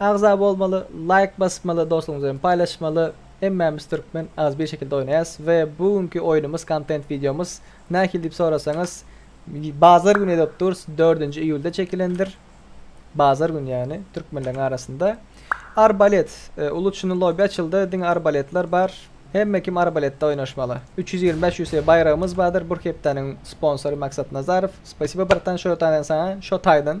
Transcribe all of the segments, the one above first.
Agza bolmaly laýk basmaly dostuňyz bilen paýlaşmaly hemmämiz türkmen az bir şekilde oýnaýas we bu günki oýnumyz kontent wideomyz nähili diýip sorasaňyz bazar güni edip durys dördünji iýulda çekilendir bazar güni ýagny türkmenleriň arasynda arbalet uly çyny lobi açyldy diňe arbaletler bar hemme kim arbaletde oýnaşmaly üç ýüz ýigrimi bäş usc baýragymyz bardyr bu hepdäniň sponsory maksat nazarow spasibo bratan şo taýdan saňa şo taýdan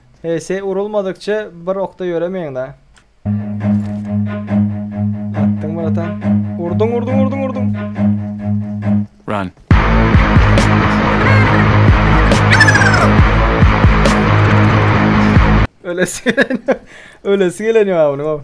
Hs urulmadykça bir okda ýöremeýiňda. Atdyň bratan. Urduň urduň urduň urduň. Run. Ölesi gelen. Ölesi gelen ýa bunyň.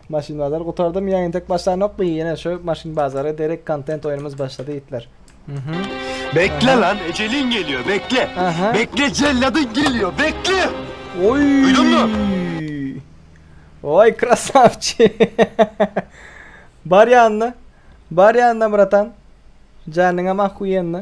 Maşyn bazary gutardym ýa entek başlanokmy ýene şu maşyn bazary derek kontent oýnumyz başlady ýitler mhmm. Bekle lan eceliň gelýo bekle bekle jelladyň gelýo bekle Oý duýduňmy. Oý krasawçi Bar ýanyna Bar ýanyna bratan Janyňam ahuýenny.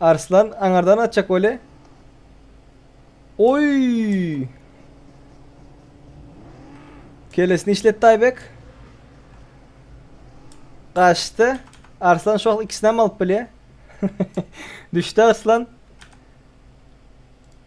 Arslan aňardan atjak weli. Oy! Kelesini işletdi Aybek. Kaçtı. Arslan şu an ikisini hem alıp bile. Düştü Arslan.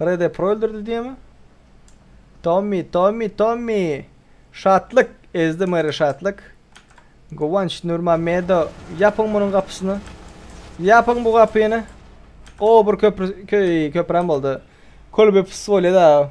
Red Apple öldürdi diýemi? Tommy, Tommy, Tommy. Şatlyk, ezdi Mary Şatlyk. Guwanç Nurmamedo, ýapyň munuň gapysyny. Ýapyň bu gapyny. O bir köprü köy köprem boldy. Kolbe fısvoleda.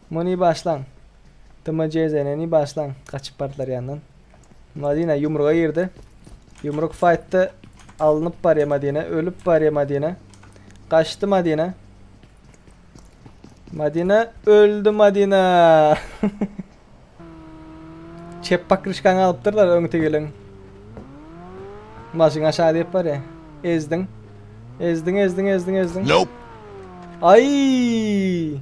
Muny başlaň. Dmjzneni başlaň. Gaçyp bardylar ýandan. Madina ýumruga girdi. Ýumruk faýtda alnyp barýa Madina. Ölüp barýa Madina. Gaçdy Madina. Madina öldü Madina. Çep pakryşkaňy alypdyrlar öňte gelen. Maşyn aşağı diýip barýa. Ezdiň. Ezdiň, ezdiň, ezdiň, ezdiň. Nope. Ay!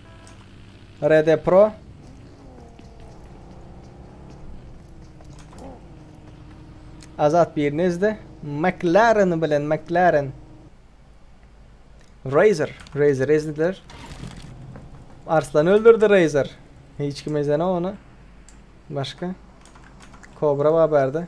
Rede Pro. Azat birini izle. McLaren bilen McLaren. Razer. Razer izlediler. Arslan öldürdü Razer. Hiç kim izlene onu. Başka. Kobra var berdi.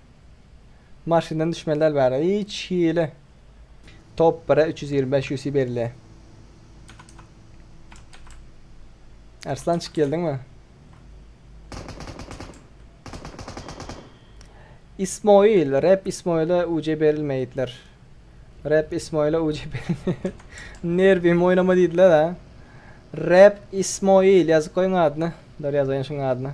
Maşyndan düşmeli däl bäri hiç hili. Top bire üç ýüz ýigrimi bäş UC berilýär. Arslançyk geldiňmi? Ismoil, Rep Ismoile UC berilmeýitler. Rep Ismoile UC berilmeýär. Nerwim oýnama diýdiler ha. Rep Ismoil ýazyp goýuň adyny. Dur ýazaýyn şuň adyny.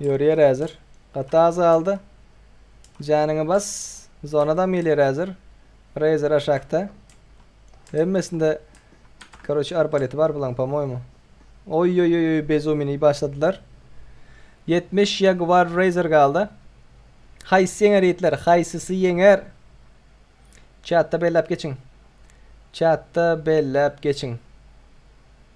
Ýörýär häzir. Gaty az galdy. Janyňy bas. Zona adam gelýär häzir. Razer aşakda. Hemmesinde Karoçi arbaleti bar bulaň pomoýmy. Oý oý oý oý bezumini başladylar. 70 Jaguar Razer galdy. Haýsy ýeňer ýigitler? Haýsysy ýeňer? Çatda belläp geçiň. Çatda belläp geçiň.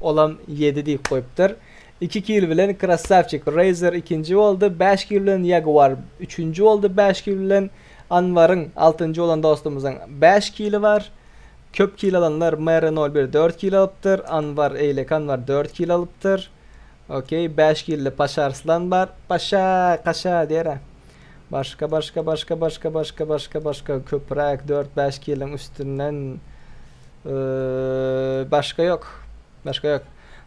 Olam ýedi diýip goýupdyr. Iki kil bilen Krassawçik, Razer ikinji boldy, bäş kil bilen Jaguar üçünji boldy, bäş kil bilen Anwaryň, altynjy bolan dostumyzyň bäş kili bar. Köp kil alanlar Mary nol bir dört kil alypdyr, Anwar, Eýlek Anwar dört kil alypdyr. Okey, bäş killi Paşa Arslan bar. Paşa, kaşa diýer-ä. Başga başga başga başga başga başga başga köpräk dört bäş kiliň üstünden başga ýok başga ýok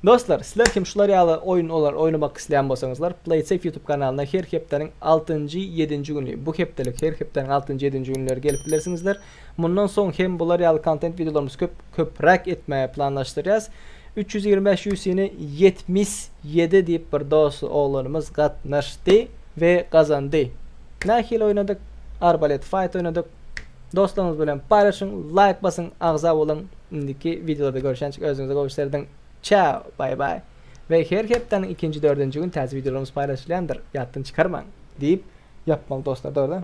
Dostlar sizler kim şular ýaly oýun olar oýnamak isleýän bolsaňyzlar Playsafe ýutub kanalyna her hepdäniň altynjy ýedinji güni bu hepdelik her hepdäniň altynjy ýedinji günleri gelip bilersiňizler Mundan soň hem bular ýaly kontent wideolarymyzy köp köpräk etmäge planlaşdyrýas. Üç ýüz ýigrimi bäş UFC-ni ýetmiş ýedi diýip bir dos oglanymyz gatnaşdy we gazandy. Nähili oýnadyk? Arbalet fight oýnadyk. Dostlaryňyz bilen paýlaşyň, laýk basyň, agza boluň. Indiki wideolarda görüşençik özüňize gowy serdiriň. Çao, baý baý. We her hepdäniň ikinji dördünji gün täze wideolarymyz paýlaşylýandyr, ýatdan çykarmaň. Diýip ýapmaly dostlar dogry.